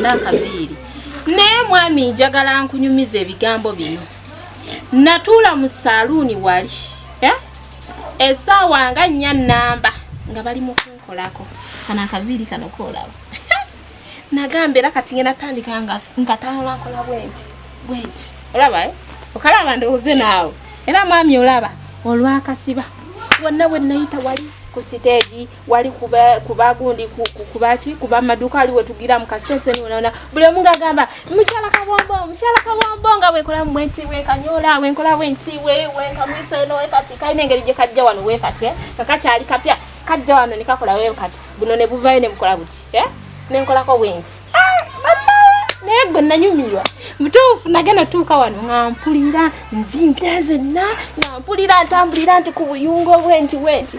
nakaviiri naye mwami njagala nkunyumiza ebigambo bino natuula mu saaluuni wali eh? esaawa nga nnya namba nga bali mu kunkolako kana akaviiri kano koolaba nagamba era kati ngenda tandika nga talankola bwenti bwenti olaba eh? okalaba ndowooze naawe era mwami olaba olwakasiba wonna wenayita wali ku siteegi wali kuba kuba gundi kuba ki kuba maduka ali wetugira mu kasitese ni unaona bule munga gamba mchala kabombo mchala kabombo nga we kola mwenti we kanyola we kola wenti we we kamisa no we kati kaine ngeri je kajja wano we kati eh kakacha ali kapya kajja wano nikakola we kati buno ne buvaye ne mkola buti eh ne nkola ko wenti ah mama ne gonna nyumirwa mutuufu nage natuuka wano nga mpulira nzimbya zenna nga mpulira ntambulira nti ku buyungo bwenti wenti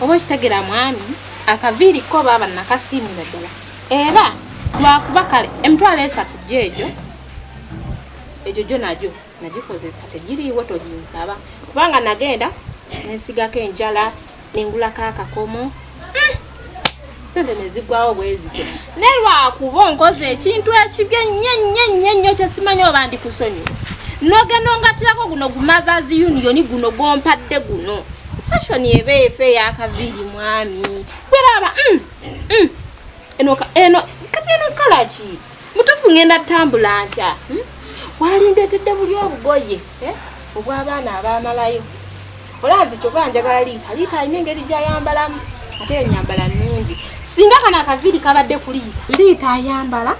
oba okitegera mwami akaviiri ko baaba nakasiimira ddala era lwakuba kale emitwalo esatu gyeegyo egyo gyo nagyo nagikozesa tegiriiwo toginsaba kubanga nagenda nensigako enjala nengulako akakomo sente nezigwawo bwezityo naye lwakuba onkoze ekintu ekibi ennyo ennyo ennyo ennyo kyesimanyi oba ndi kusonyi nogenda ongatirako guno gumothers union guno gwompadde guno fashion eba efe eyakaviiri mwami gweraaba mm, mm. eno kati eno kalaki mutufu ngenda tambula ntya hmm? walindetedde buli obugoye eh? obw'abaana abamalayo olanzi kyova njagala liita liita alina engeri gyayambalamu ate enyambala nungi singa kana akaviiri kabadde kuli liita ayambala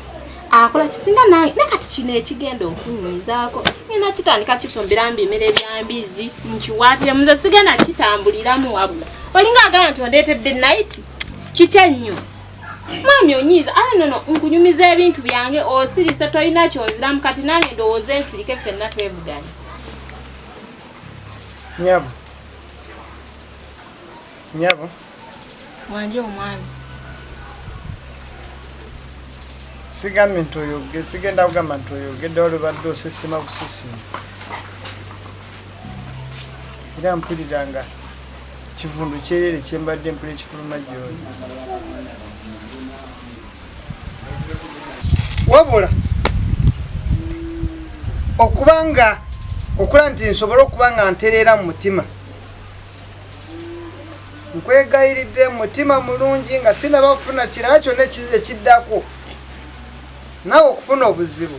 akola kisinga nange ne kati kino ekigenda okunyizaako ngenda kitandika kisombera mbi emere byambizi nkiwaatire muze sigenda kitambuliramu wabula olinga agamba nti ondeetedde nayiti kiki ennyo Mwami onyiiza ala ah, nono nkunyumiza ebintu byange osirise tolina kyonziramu kati nange ndowooza ensirike fenna twevuganya nyabo nyabo wanje omwami sigambye nti oyoge sigenda kugamba nti oyogedde olubadde osesema busesema era mpulira nga kivundu kyerere kyembadde mpula ekifuluma gyoli wabula okuba nga okula nti nsobole okuba nga ntereera mu mutima nkwegayiridde mutima mulungi nga sinaba kufuna kirala kyonna ekiddako nawe okufuna obuzibu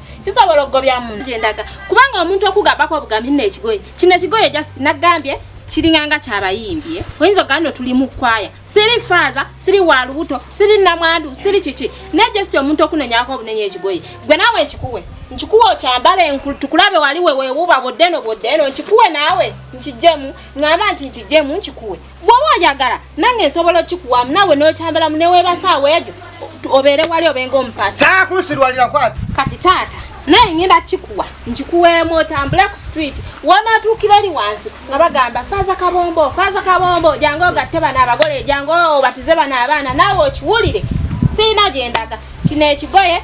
kisobola okugobya munno gyendaga kubanga omuntu okugambako obugambi nno ekigoye kino ekigoye just nagambye kiringanga kyabayimbye eh? oyinza ogamba no tuli mu kwaya siri faaza siri wa lubuto siri namwandu siri kiki naye just omuntu okunonyako obunenya ekigoye gwe naawe nkikuwe nkikuwe okyambale tukulabe wali wewewuba bwoddeno bwoddeno nkikuwe naawe nkijemu ngamba nti nkijemu nkikuwe bwoba oyagala nange nsobola okikuwamu nawe nokyambalamu newebasaawa egyo obeere wali obenga omupati sakunsirwalira kwata kati taata naye ngenda kikuwa nkikuweemu otambule ku street wonatuukira eri wansi nga bagamba faaza kabombo faaza kabombo jangu ogatte bano abagole jangu obatize bano abaana naawe okiwulire siina gyendaga kino ekigoye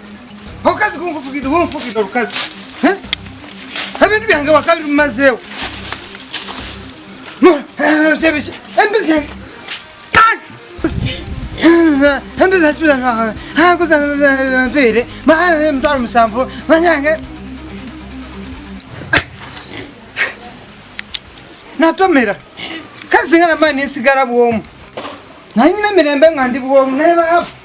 Okazi kunfukide kunfukide olukazi. Eh? Ebintu byange wakali lumazeewo. Sebisha. Embizi. Embizi atula na. Ha kuza mfire. Ma mtwalo msamvu. Manyange. Natomera. Kazi ngana mani sigara bwomu. Nanyina mirembe ngandi bwomu. Neba hafu.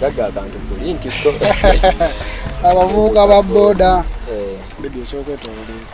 gagga akantu kuli nti abavubuka ba boda eh. bebi esobola kwetolola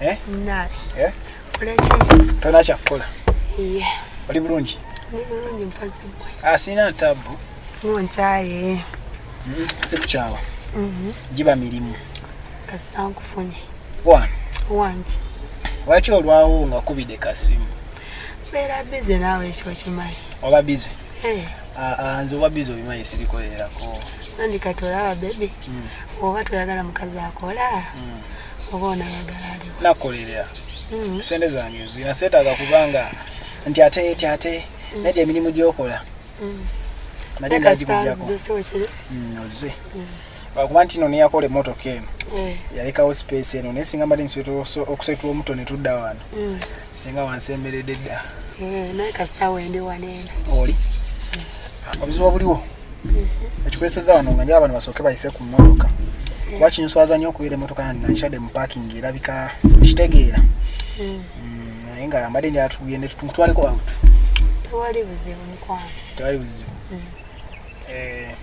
Eh? Nae. Eh? Kuleki. Tona cha kula. Iye. Oli bulungi? Ni bulungi mpozi mwe. Ah, sina tabu. Mwantaye. Mm -hmm. Siku chawa. Mhm. Mm Jiba milimu. Kasangu funye. Wan. Wanji. Wacho olwawo nga kubide kasimu. Mera bize nawe ekyo kimayi. Oba bize. Eh. Ah, ah, nze oba bize obimayi sibikolerako. Nandika tolaba baby. Mm. Oba toyagala mukazi akola. Mm. oba onayagala aliwo nakolerera mm-hmm. sente zange nzina seetaaga kubanga nti ate ti ate mm. nedda emirimu gyokola mm. nali nagikugyako mm, oze lwakuba nti no neyakola emotoka eno eh. yalekawo space eno naye singa mbadde nsobola okusetula omuto ne tudda wano singa wansemberedde dda eh, naye kasaawa endi waneena oli mm. obuzibu obuliwo mm-hmm. ekikweseza wano nga nyo abantu basooke bayise ku mmotoka mm. kuba kinswaza nnyo okubeera emmotoka yange nga nkitadde mu paakingi erabika kitegeera mm. naye nga mbadde njala tugende tumutwaleko out tewali buzibu mukwano tewali buzibu eh.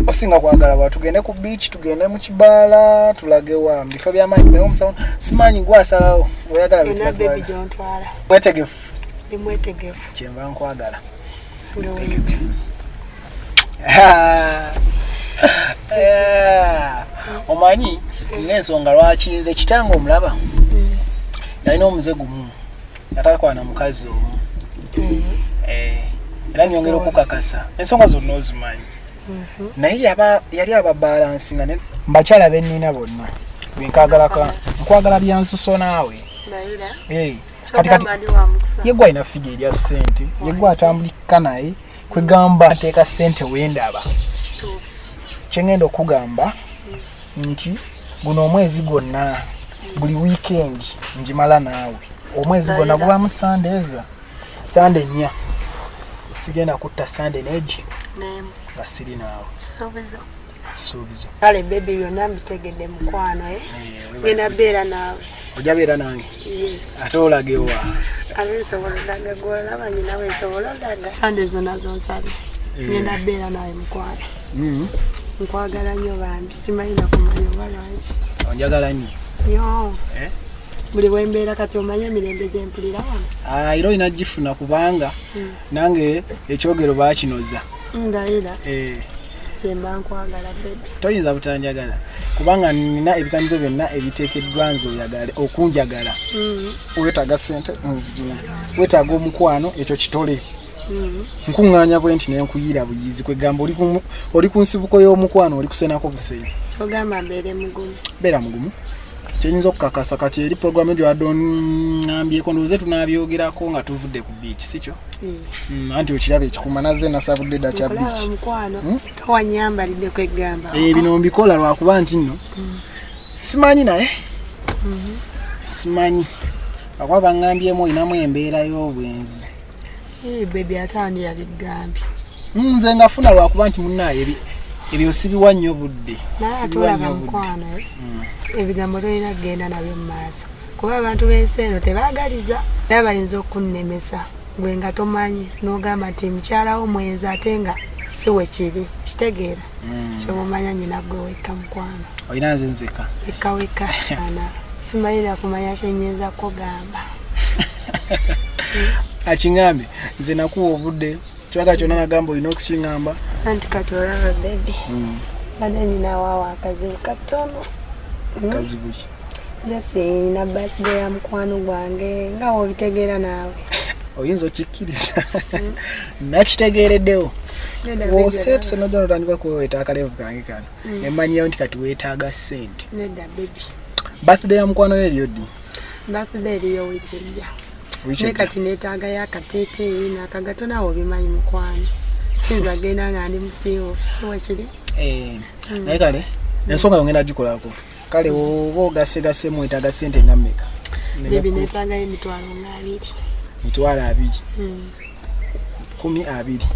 osinga kwagala wa tugende ku beach tugende mu kibaala tulage wa mubifo byamaanyi naye omusawo simaanyi gwasalawo oyagala mwetegefu kyenva nkwagala omanyi nensonga lwaki nze kitanga omulaba mm. nalina omuze gumu natakwana mukazi omu mm. eh, era nyongera okukakasa ensonga zonna ozimanyi mm-hmm. naye yali ababalansi nga mbakyala benina bonna benkagalaka nkwagala byansuso naawe eh, yegwe alina figa erya sente yegwe atambulikka naye kwegamba nteeka sente wendaba kyengenda okugamba nti guno omwezi gwonna buli weekend njimala naawe omwezi gwonna gubamu sande eza sande nnya sigenda kutta sande neji nga siri naawe suubizo kale bebi byonna mbitegedde mukwano eh? eh, ngenda beera naawe ojja beera nange ate olage wa abe nsobola olaga gwolaba nyina we nsobola olaga sande zona zonsabye eh. ngenda beera nawe mukwano mm-hmm. nkwagala nnyo bambi simanyi nakumanya oba lwaki onjagala nnyo yo eh? buli wembeera kati omanye emirembe gyempulira wano ah, era olina gifuna kubanga hmm. nange ekyogero bakinoza ndayira eh. kyemba nkwagala bebi toyinza butanjagala kubanga nina ebizanyizo byonna ebiteekeddwa nze oyagale okunjagala mm. wetaaga sente nzijina wetaaga omukwano ekyo kitole mm. nkuŋŋaanya bwe nti nenkuyiira buyizi kwegamba oli ku nsibuko y'omukwano oli kusenako busenyi kyogamba mbeere mugumu beera mugumu kyenyinza okukakasa kati eri programu ejo adonambyeko ndowooze tunabyogerako nga tuvudde ku beach sikyo eh. mm, anti okiraba ekikuma naze nasabudde dda kya beach hmm? eh, bino mbikola lwakuba nti nno hmm. simanyi naye hmm. simanyi akuba bangambyeemu olinamu embeera y'obwenzi Hey baby atani yabigambye. Nze ngafuna lwakuba nti munnaye ebi ebyo sibiwa nnyo budde. Sibiwa nnyo budde. Eh? Mm. Ebigambo lwena genda nabyo mu maaso. Kuba abantu b'ensi eno tebaagaliza naye bayinza okunnemesa gwe nga tomanyi n'ogamba nti mukyalawo mwenzi ate nga si we kiri kitegeera mm. kyemumanya nyina gwe wekka mukwano olina nze nzeka wekka wekka ana simalira kumanya kyenyinza kugamba akiŋambe nze nakuwa obudde kyoka kyona nagamba olina okukiŋamba anti kati olaba bebi mm. bade nyina wawa akazibu katono mm. kazibuki jasi nina birthday ya mukwano gwange nga wobitegeera naawe oyinza okikkiriza hmm? nakitegeereddewo woseetuse nojja notandika kuweweta akalevu kange kano hmm. nemanyiyo nti kati weetaaga sente birthday ya mukwano yo eriyo ddi birthday eriyo wikijja naye kati neetaaga yo akateeteeyi nakagato nawe obimanyi mukwano sinza agenda nga ndi musiiwoofu siwekiri eh, hmm. naye kale ensonga yongenda gikolako kale oba ogasegase mwetaga sente nga mmeka nebinetangayo emitwalo nga abiri mitwalo abiri hmm. kumi abiri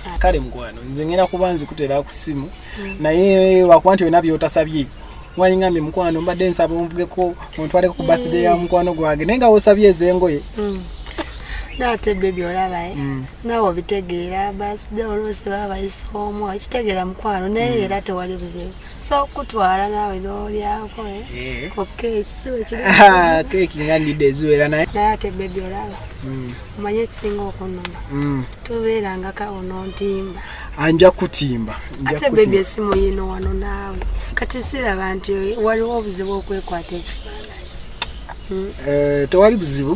ah. kale mukwano nze ngenda kuba nzikutera ku ssimu hmm. naye lwakuba nti olina byotasabye wayingambye mukwano mbadde nsaba onvugeko ontwaleko ku birthday ya hmm. mukwano gwange naye nga wosabye ezengoye naate byo byolaba eh? mm. nawe obitegeera basi de olwosi baba bayisa omu okitegeera mukwano naye mm. era tewali buzibu so okutwala naawe n'olyako eh? ku keeki si wekiri keeki nga ndidde eziwera naye naye ate bebi olaba hmm. omanye ekisinga okunuma hmm. tobeeranga kawo n'ontimba anja kutimba ate bebi esimu yino wano naawe kati siraba nti waliwo obuzibu okwekwata ekifaananyi hmm. eh, tewali buzibu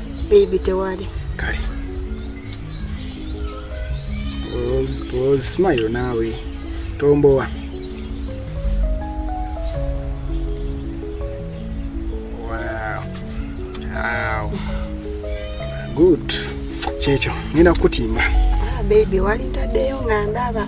Baby tewali. Kale. Pause, pause, smile nawe. Tombowa. Wow. Wow. Good. Checho, nina kutimba. Ah, baby, wali tadeyo ngandaba.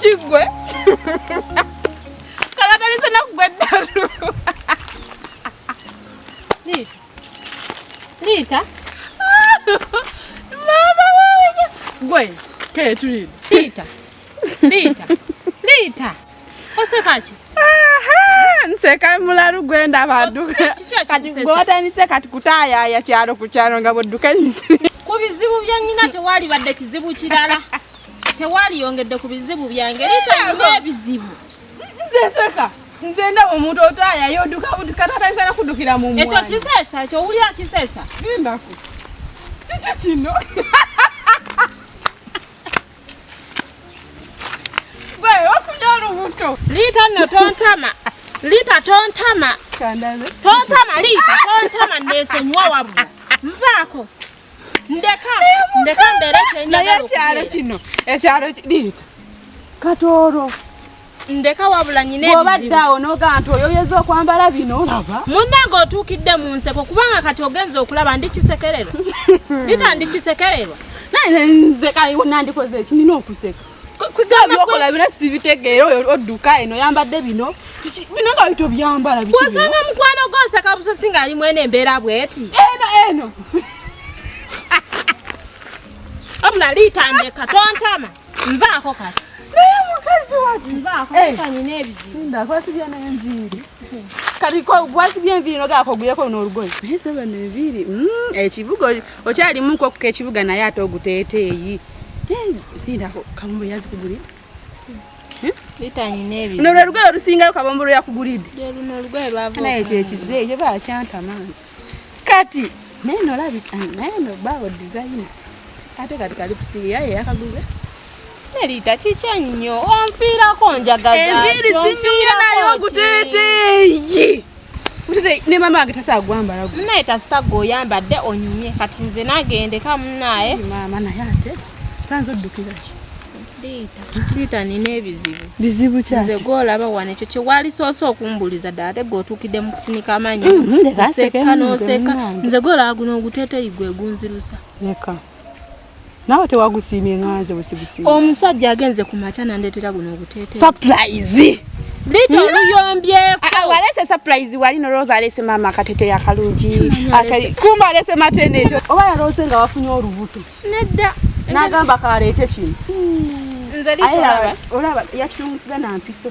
kiggwe kalakalisa nakugwa eddalu Liita. Liita. Mama wange. Gwe, kaya tulide. Liita. Liita. Liita. Oseka ki? nseka mulalu gwenda baduka kati gwotandise kati kutayaya kyalo ku kyalo nga bwodduka ensi ku bizibu bya nyina tewali badde kizibu kirala tewali yongedde ku bizibu byange lita nina ebizibu nze nseka nze ndaba omuntu otaaya yoduka budusi kati atandisa nakudukira mu ekyo kisesa ekyo wulira kisesa endaku kiki kino gwe ofunye olubuto liita nno tontama liita tontama tontama liita tontama nesonyiwa wabula nvaako ndeka ndeka mbeere kyenaye ekyalo kino ekyalo kiriita katooro ndeka wabula nyina obadde awo nogamba nti oyo oyeza okwambala bino olaba munnange otuukidde mu nseko kubanga kati ogenza okulaba ndi kisekererwa ndita ndi kisekererwa naye nze kayonandikoze ekinina okuseka byokola bino sibitegeera oyo odduka eno yambadde bino bino nga bito byambala wasanga mukwano gwosaka busosi nga ali mwene embeera bweti eno eno abula liitandeka tontama nvaako kati naye mukazi wati nvaako kanyina eh. ebizibu ndakwasibya nenviiri kati gwasibya enviiri nogakoguyeko noolugoye naye sebe nenviiri mm, ekibugo okyali mu nkoku kekibuga naye ate oguteeteeyi linda kabombo yazikugulira luno lwe lugoye olusingayo kabombo lwe yakugulidde naye ekyo ekize ekyo bakyanta manzi kati naye nolabika naye nobaawo dizayina ate kati kali kusiiga yaye yakaguze Melita kikya nnyo onfiirako njagaza enviiri zinyumya naye oguteeteeyi ne mama wange tasaa gwambala naye tasita gwe oyambadde onyumye kati nze nagendeka munaye mama naye ate sanze oddukiraki liita nina ebizibu bizibu nze gwolaba wano ekyo kyewalisoose okumbuliza ddala ate gweotuukidde mu kusinika amanyi mm-hmm, oseka noseka nze gwolaba guno oguteteyi gwegunzirusa nawe tewagusiimye nganze wesigusiimye omusajja agenze ku makya nandeetera guno oguteete surprise Lito hmm? luyombyeko. Ah, ah, walese surprise wali no Rose alese mama katete ya kalungi. Akai kumba alese matene to. Oba ya Rose nga wafunye olubuto. Nedda. Nagamba kalete kino. Hmm. Nze lito. Ayala olaba yakitumusiza na mpiso.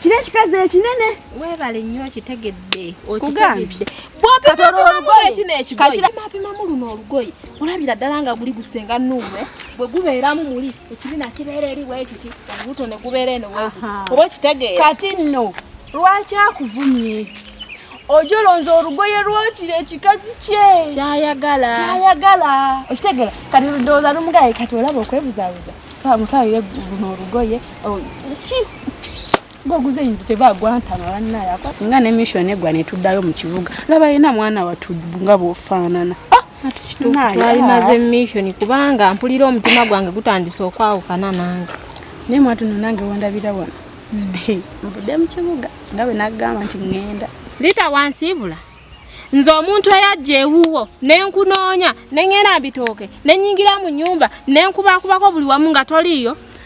kino ekikazi ekinene webale nnyo okitegedde okitegedde bwopimapimamu luno olugoye olabira ddala nga guli gusenga nuwe bwe gubeeramu muli ekibina kibeera eri wekiti olubuto ne gubeera eno oba okitegeera kati nno lwaki akuvumye ojo olonza olugoye lwokira ekikazi kye kyayagala kyayagala okitegera kati ludooza lumugaye kati olaba okwebuzabuza twamutwalire luno olugoye Oh, goguze yinzi tebagwantama bannaye ako singa ne mission egwa ne tuddayo mu kibuga laba yena mwana watu nga bwofaanana ah, twalimaze ah. mission kubanga mpulira omutima gwange gutandise okwawukana nange naye mwatuno nange wandabira wano hmm. nvudde mu kibuga nga bwe nagamba nti ŋŋenda lita wansiibula nze omuntu eyajja ewuwo nenkunoonya neŋŋenda mbitooke nenyingira mu nyumba nenkubakubako buli wamu nga toliiyo